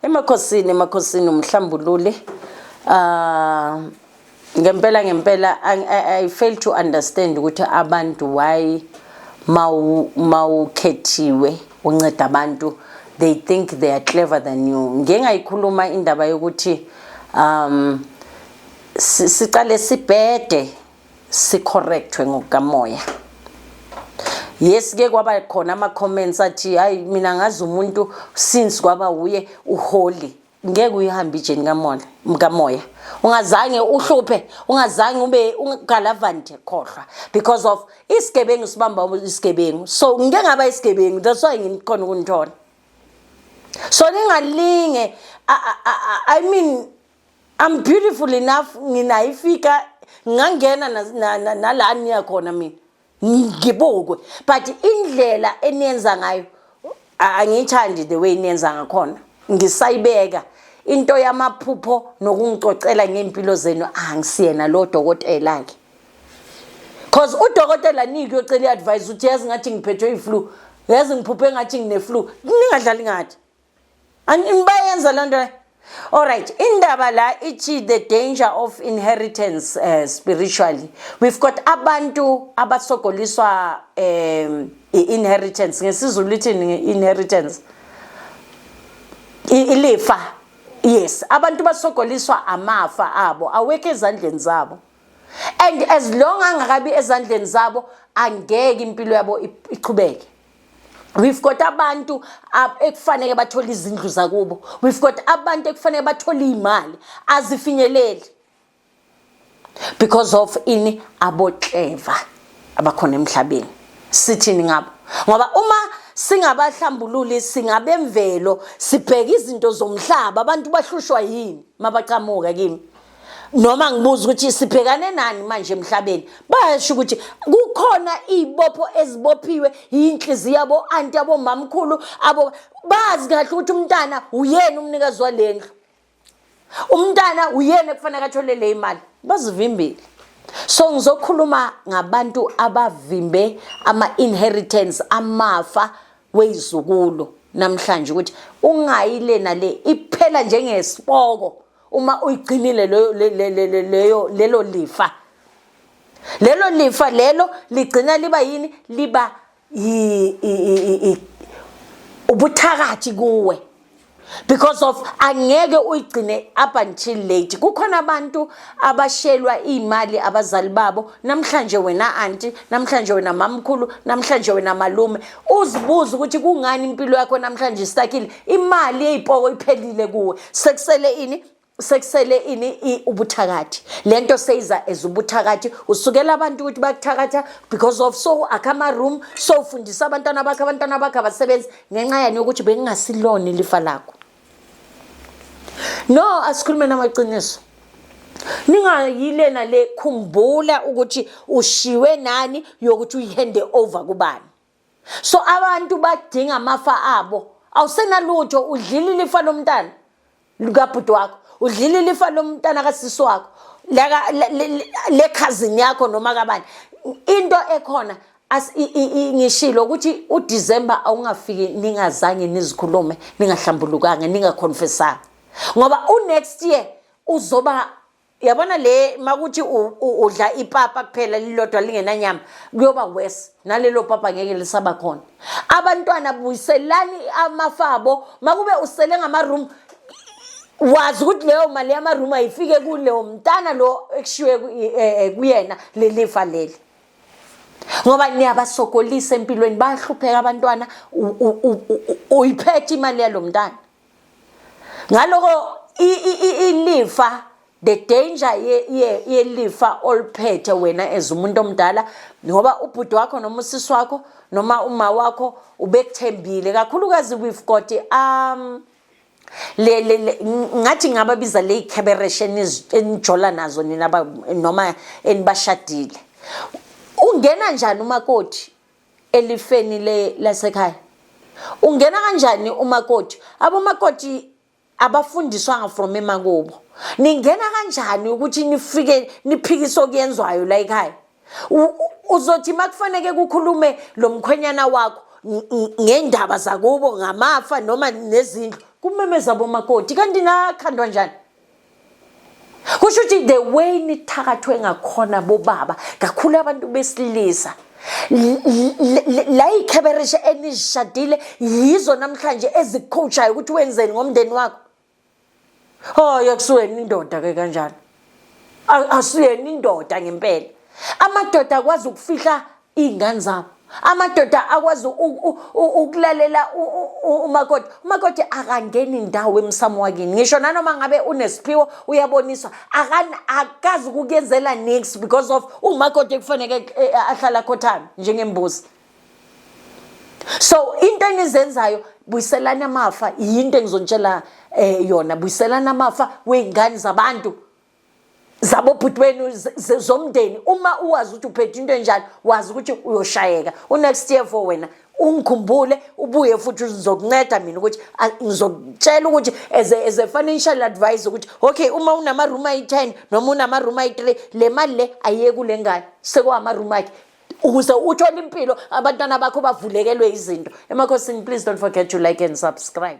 Emakhosini emakhosini umhlambululi uh ngempela ngempela I, I, I fail to understand ukuthi abantu why mawu mawukhethiwe unceda abantu they think they are clever than you ngeke ngayikhuluma indaba yokuthi um siqale sibhede sicorrectwe ngokukamoya yes ke kwaba khona ama comments athi hayi mina ngazi umuntu since kwaba uye uholy ngeke uyihambe ijeni kamoya kamoya ungazange uhluphe ungazange ube ungalavante khohlwa because of isigebengu sibamba isigebengu so ngike ngaba isigebengu that's why nginikhona ukunithola so ningalinge i mean I'm beautiful enough nginayifika ngangena nala niya khona mina ngibukwe but indlela eniyenza ngayo angiyithandi the way niyenza ngakhona ngisayibeka into yamaphupho nokungicocela ngempilo zenu angisiyena lo dokotela ke cause udokotela niki yocela iadvice uthi yazi ngathi ngiphethwe iflu yazi ngiphuphe ngathi ngineflu ningadlali ngathi Bayenza loo nto Alright, indaba la ithi the danger of inheritance uh, spiritually. We've got abantu abasogoliswa um inheritance ngesizulu lithini inheritance ilifa yes abantu basogoliswa amafa abo awekho ezandleni zabo and as long angakabi ezandleni zabo angeke impilo yabo iqhubeke We've got abantu ekufanele bathole izindlu zakubo. We've got abantu ekufanele bathole imali azifinyeleli. Because of ini abo clever abakhona emhlabeni. Sithini ngabo? Ngoba uma singabahlambululi singabemvelo sibheka izinto zomhlaba abantu bahlushwa yini mabaqhamuka kimi noma ngibuza ukuthi sibhekane nani manje emhlabeni bayasho ukuthi kukhona izibopho ezibophiwe yinhliziyo yabo anti yabo mamkhulu abo bazi kahle ukuthi umntana uyena umnikazi walendlu umntana uyena ekufanele athole le imali bazivimbile so ngizokhuluma ngabantu abavimbe ama inheritance amafa wezukulu namhlanje ukuthi ungayile nale iphela njengesiboko uma uyigcinile leyo leyo lelo lifa lelo lifa lelo ligcina liba yini liba ubuthakathi kuwe because of angeke uyigcine up until late kukhona abantu abashelwa imali abazali babo namhlanje wena aunti namhlanje wena mamkhulu namhlanje wena malume uzibuze ukuthi kungani impilo yakho namhlanje istakile imali eyipoko iphelile kuwe sekusele ini sekusele ini ubuthakathi lento seyiza as ubuthakathi usukela abantu ukuthi bakuthakatha because of so akha ama room so ufundisa abantwana bakhe abantwana bakhe abasebenzi ngenxa yani ukuthi bengingasilona ilifa lakho no asikhulume namaqiniso ningayilena le khumbula ukuthi ushiwe nani yokuthi uyihande over kubani so abantu badinga amafa abo awusenalutho udlile ilifa lomntana likabhuti wakho udlile ilifa lomntana kasisi wakho lekhazini yakho noma kabani into ekhona as ngishilo ukuthi uDecember awungafiki ningazange nizikhulume ningahlambulukanga ningaconfessanga ngoba unext year uzoba yabona le makuthi udla ipapa kuphela lilodwa lingenanyama kuyoba worse nalelo papa ngeke lisaba khona abantwana buyiselani amafabo makube usele ngama room wazi ukuthi leyo mali yama room ayifike kuleyo mntana lo ekushiwe eh, eh, kuyena lelifa leli ngoba niyabasokolisa empilweni bayahlupheka abantwana uyiphethe imali yalo mntana ngaloko ilifa the danger yelifa oliphethe wena as umuntu omdala ngoba ubhuti wakho noma usisi wakho noma uma wakho ubekuthembile kakhulukazi we've got um le le ngathi ngababiza le ikhebereshe enijola nazo nina noma enibashadile ungena njani umakoti elifeni le lasekhaya ungena kanjani umakoti abomakoti abafundiswanga from emakubo ningena kanjani ukuthi nifike niphikise okuyenzwayo la ekhaya uzothi makufaneke kukhulume lo mkhwenyana wakho ngendaba zakubo ngamafa noma nezindlu kumemeza bomakoti kanti nakhandwa njani kusho ukuthi the way nithakathwe ngakhona bobaba kakhulu abantu besilisa la yikhebereshe enizishadile yizo namhlanje ezikhushayo ukuthi wenzeni ngomndeni wakho Oh yakusweni indoda ke kanjalo. Asuyeni indoda ngempela. Amadoda akwazi ukufihla izingane zabo. Amadoda akwazi ukulalela umakoti. Umakoti akangeni indawo emsamo wakini. Ngisho nanoma ngabe unesiphiwo uyaboniswa akani akazi ukuyenzela next because of umakoti ekufanele eh, ahlala khothana njengembuzi. so into enizenzayo buyiselani amafa yinto engizonitshela eh yona buyiselani amafa wey'ngane zabantu zabobhuti benu zomndeni uma uwazi ukuthi uphethe into enjani wazi ukuthi uyoshayeka unext year for wena ungikhumbule ubuye futhi ngizokunceda mina ukuthi ngizokutshela ukuthi as a, as a financial advisor ukuthi okay uma unama-room ayi-ten noma unama-room ayi-three le mali le ayiyeki ule ngane sekuwama-room akhe ukuze uthole impilo abantwana bakho bavulekelwe izinto emakhosini please don't forget to like and subscribe